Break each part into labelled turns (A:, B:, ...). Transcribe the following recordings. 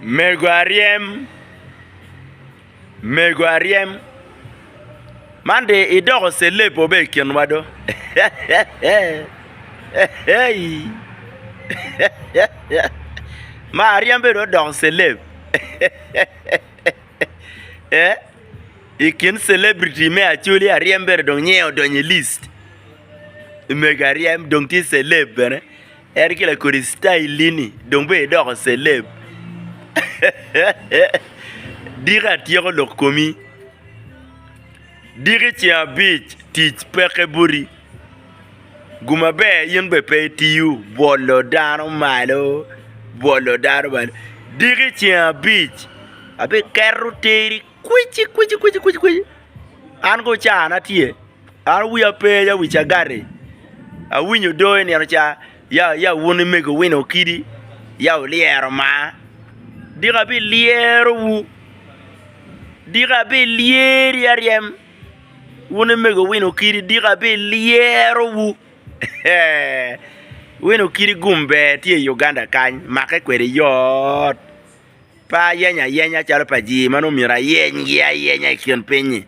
A: Mego aryem, mego aryem man dong idoko celeb wa bene i kinwa do ma aryem bene dong odoko celeb i kin celebrity me acholi aryem bene dong nyiye odonyo i list mego aryem dong tye celeb bene. En ki lakodi style-ni dong bene idoko celeb. Diki atyeko lok komi. Diki ceng abic tic peke boti. Gum maber in bene pe itiyo bwolo dano malo bwolo dano malo. Diki ceng abic abiketo teri Kwici kwici kwici kwici kwici an ko cana tye an wiya pe ya wi cagati awinyo doo inino ca ya ya wun imego wino kidi ya wulyero maa dika bilyero wu dika bilyeri aryem wun imego wino kidi dika bilyero wu wino kidi gum ber tye i Uganda kany make kwede yoo. Pe ayenyo ayenya calo pa ji ma nongo myero ayenygi ayenya i kin piny-nyi.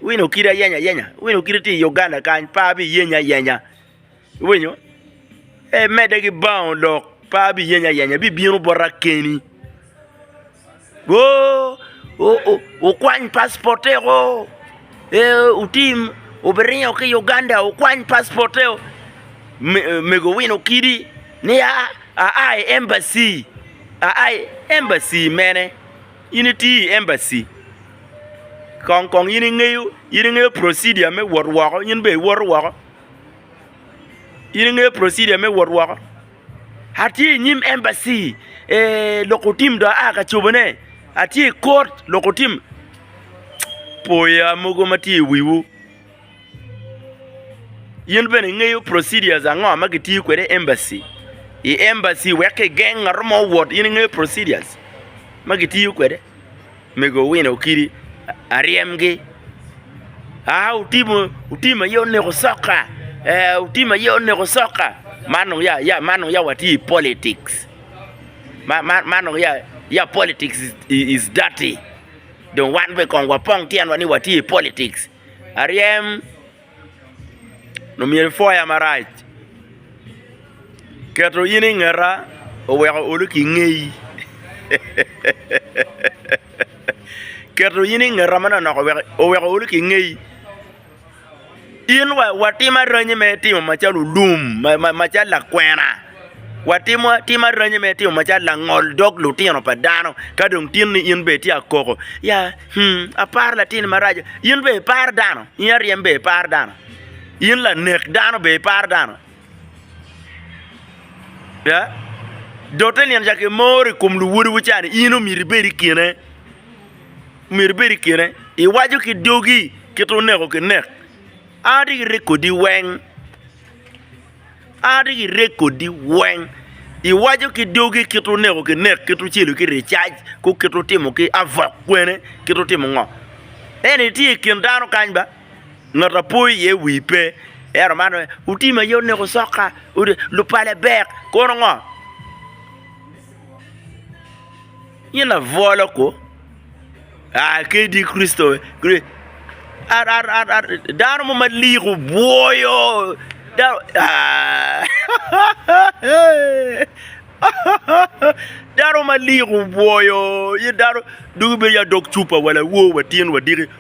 A: Iwinyo kit ayenyo ayenya? Iwinyo kit iti i Uganda kany, pe abiyenyo ayenya. Iwinyo? Ee, medde ki baongo lok, pe abiyenyo ayenya, ibibino bota keni. Woo, wukwany pacipotego, ee, wutim, wubiringo ki i Uganda, wukwany pacipotego. Mego wino kidi ni aa i embaci. Aa i embassy mene? In itiyo i embassy kong kong in ingeyo in ingeyo procedure me wot woko in bene iwoto woko? In ingeyo procedure me wot woko? Atye i nyim embassy ee lok otim dong aa ka cobone atye i court lok otim Cïk! Pwoya mogo ma tye i wiwu. In bene ingeyo procedures ango ma kitiyo kwede i embassy i embassy wek ki geng ngat mo owot in ingeyo procedures ma kitiyo kwede mego Owino Okidi aryemgi aa otim aye oneko soka ee otim aye oneko soka man dong ya watye i politics man dong ya politics is dirty dong wan bene kong wapong tyenwa ni watye i politics. aryem nyo myero ipwoya marac keto in i ngeta oweko olu ki ngeyi keto in i ngeta manonok oweko olu ki ngeyi in wa watim aranyi me timo macalo lum macalo lakwena. watimo atima ranyi me timo macalo langol dog lutino pa dano ka dong tin ni in bene tye akoko ya hmm aparo latin ni maraco in bene iparo dano in aryem bene iparo dano in lanek dano bene iparo dano ya dote nino ca kimoro i kom luwodwu ca ni in omyero ibed i kine omyero ibed i kine iwaco ki dogi kit oneko kinek an atye ki rekodi weng A rik irek kodi weng, iwaco ki dogi kit oneko ki nek, kit ocelo ki ricac, ku kit otimo ki avok kwene, kit otimo ngo? Ento itye i kin dano kany ba, ngat a po iye wi pe. Ento man aye, Utim aye oneko soka, lupale bek, kono ngo? Yin abwolo ku? Aa kadi Kricito dano mo malik obwoyo dano dano malik obwoyo dano dong ibedo adog cupa wa lawo wa tyen wa diki.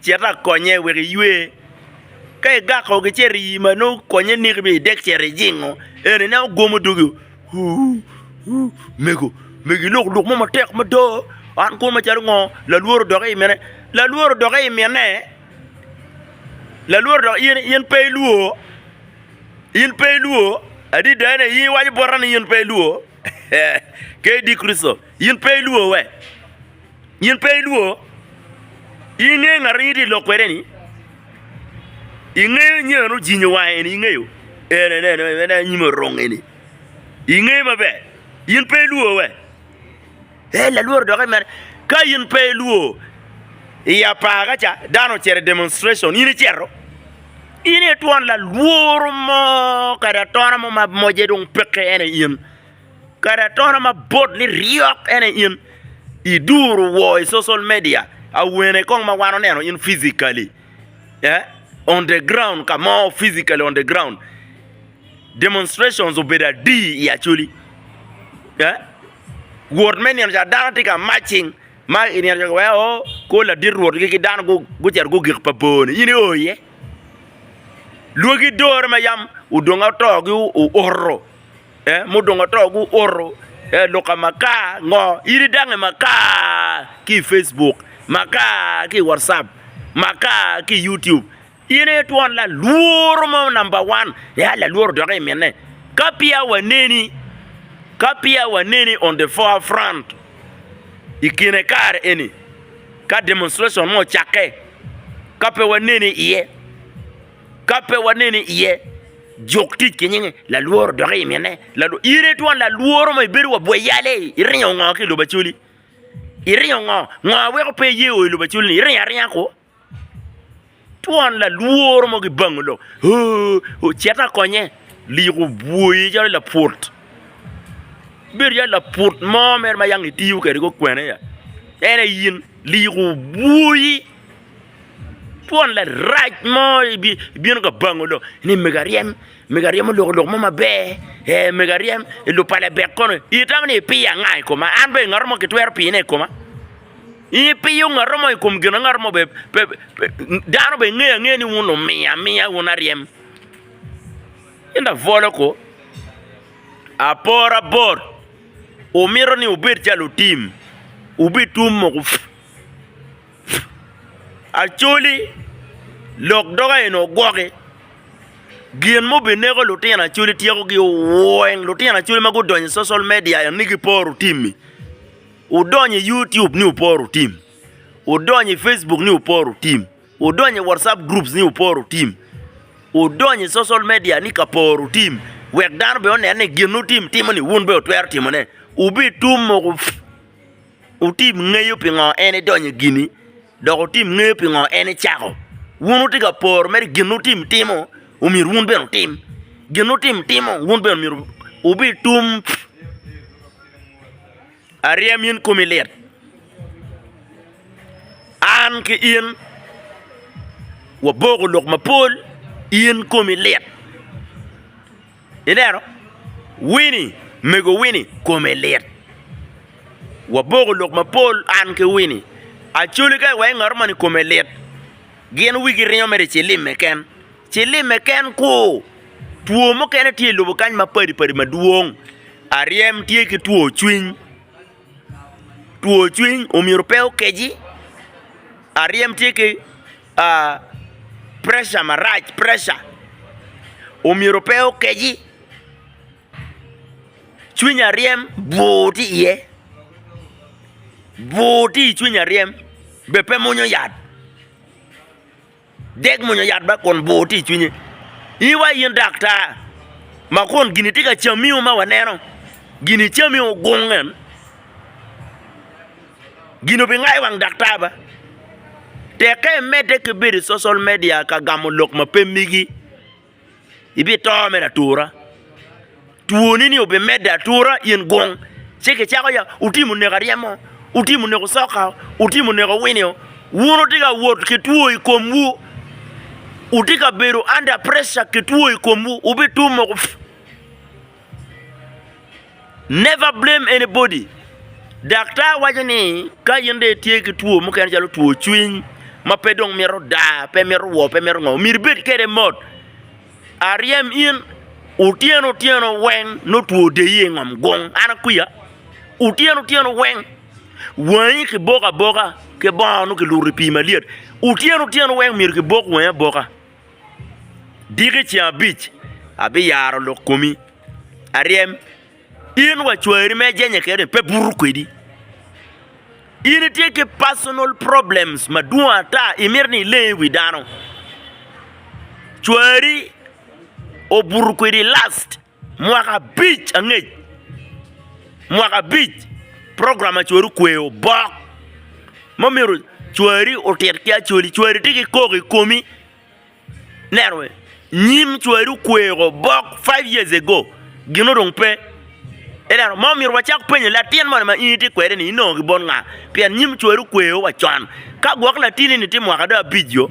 A: Cit akonye wek iywe. Ka igako gi ce rii ma nongo konye niki bene idek cito ijingo en ni nongo gwomo dogi ooh ooh mego mego ilok lok mo matek mada an kwo macalo ngo lalwor odokke i mine lalwor odokke i mine lalwor odokke in in pe ilwor in pe ilwor adida ni in iwaco bota ni in pe ilwor Kdi Kricito in pe ilwor we. In pe ilwor. In ingeyo ngat ma in itye ka lok kwede-ni? Ingeyo nyo en ojinyo wange-ni? Ingeyo? En aye, en aye, en aye anyim orung eni. Ingeye maber. In pe ilwor we? En lalworo doki mere. Ka in pe ilwor, i apaka ca dano ocito i demonstration, in icito? In aye twon lalworo mo kadi atona mo ma moje dong peke, en aye in. Kadi atona ma bot ni ryok en aye in i duru wor i social media awene kong ma wan oneno in physically eh on the ground ka mo physically on the ground demonstrations obedo adi i Acholi eh wot me nino ca dano tye ka marching ma i nino ca ki weko oh kor ladit rwot gi dano gucito gugik pa bor ni in i oo iye lwagi dore ma yam odong oto gi oto. Mudong ato guoto luka makar ngo idi dange makar ki i Facebook makar ki i wacap makar ki i YouTube in aye twon lalworo mo namba wan ya lalworo doki i mine ka peya waneni ka peya waneni on the fore front i kine kare eni ka demonstration mo ocakke ka pe waneni iye. ka pe waneni iye, juk tic ki nyinge, lalworo dok imine. In itwon lalworo mo, ibedo wa bwe yal ei, iringo ngo ki i lobo Acoli? Iringo ngo? Ngo ma weko pe iye o i lobo Acoli-ni? Iringo aringa kwo. Twon lalworo mo gibango lok, ooh, cet akonye, lik obwoyi calo laput. Ibedo calo laput mo mere ma yang itiyo kwede kukwenea, en aye in, lik obwoyi. Twon larac mo bino ka bango dong ni mego aryem, mego aryem oloko lok mo maber, ee mego aryem i lub pa Labek kono itamo ni ipiyo anga i koma? An dong ngat mo kitwero piyone i koma? In ipiyo ngat mo i kom gin ma ngat mo bene pe dano bene ngeyo angeya ni wun lumiyo amiya wun aryem. In da bwolo ko, apora bot wumito ni wubed calo lutim, wubitun mogo. Acholi, lok doga eni ogwoki. Gin ma obineko lutino Acholi tyekogi oweng lutino Acholi ma gudonyo i social media eni ni giporo tim-mi. Wudonyo i YouTube ni wuporo tim, wudonyo i Facebook ni wuporo tim, wudonyo i Whatsapp groups ni wuporo tim, wudonyo i social media ni ka poro tim wek dano bene onen ni gin ma wutim timoni wun bene wutwero timone. Wubitum mogo. Wutim ngeyo pingo en edonyo i gini, dok wutim ngeyo pingo en ecako. Wun wutye ka poro mere gin wutim timo omyero wun bene wutim, gin wutim timo wun bene omyero wubitum. Aryem in komi lit, an ki in waboko lok mapol in komi lit. Ilero? Wini, mego Wini kome lit. Waboko lok mapol an ki Wini. Acoli ka iweko ngat moni kome lit, gin wigi ringo mere ci limme ken. Ci limme ken ku. Two mukene tye i lobo kany mapadi padi madwong. Aryem tye ki two cwiny. Two cwiny omyero pe okeci. Aryem tye ki. preca marac, preca omyero pe okeci, cwiny aryem bur tye iye, bur tye i cwiny aryem be pe mwonyo yat, dek mwonyo yat ba kun bur tye i cwinye. In wa in daktar ma kun gin tye ka camiwu ma waneno, gin icamiwu gung en. Gin obingayo wang daktar ba? Tekke imedde ki bedo i social media ka gamo lok ma pe megi, ibito mere atura. Twoni ni obimedde atura in gung ci kicako ya wutimo neko aryemo, wutimo neko coka, wutimo neko winio, wun wutye ka wot ki two i komwu, wutye ka bedo under pressure ki two i komwu, wubitum woko. Never blame anybody. Daktar waco ni ka in dong itye ki two mukene calo two cwiny ma pe dong mito daa, pe mito woo, pe mito ngo, myero ibed kede mot. Aryem in otyeno otyeno weng nongo two odeyi i ngom gung, an akwiya? Otyeno otyeno weng wangi kiboko aboka ki bongo nongo kiluto i pii malyet, otyeno otyeno weng myero kibok wangi aboka. Diki ceng abic abiyaro lok komi aryem, in wa cwari ma ijenye kede ni pe buto kwedi. In itye ki personal problems madwong ata imito ni ileng iwi dano. Cwari obuto kwedi last. Mwaka abic angec, mwaka abic program ma cwari okweyo obok ma omyero cwari otit ki Acholi. Cwari tye ki kok i komi, ineno bene nyim cwari okweyo obok five years ago gin ni dong pe ineno ma omyero wacak penye latin moni ma in itye kwede ni inongo ki bot nga pien nyim cwari okweyo wa con ka gwok latini ni tye mwaka dong abic oo.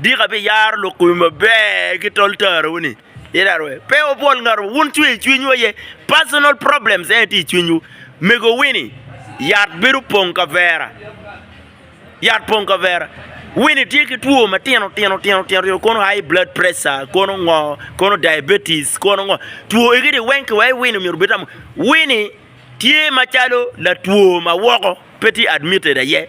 A: Dika abiyaro lok komi maber ki tol tarawu ni in aye rwed. Pe wubwol ngat mo. Wun cwer i cwinywu aye. Personal problems en aye tye i cwinywu. Mego Winnie, yat bedo pong kavera. Yat pong kavera. Winnie tye ki two matino tino tino tino tino kono high blood pressure kono ngo, kono diabetes kono ngo. Two egi ni weng kiwai Winnie myero obed tamo. Winnie tye macalo latwo ma woko pe tye admitted aye.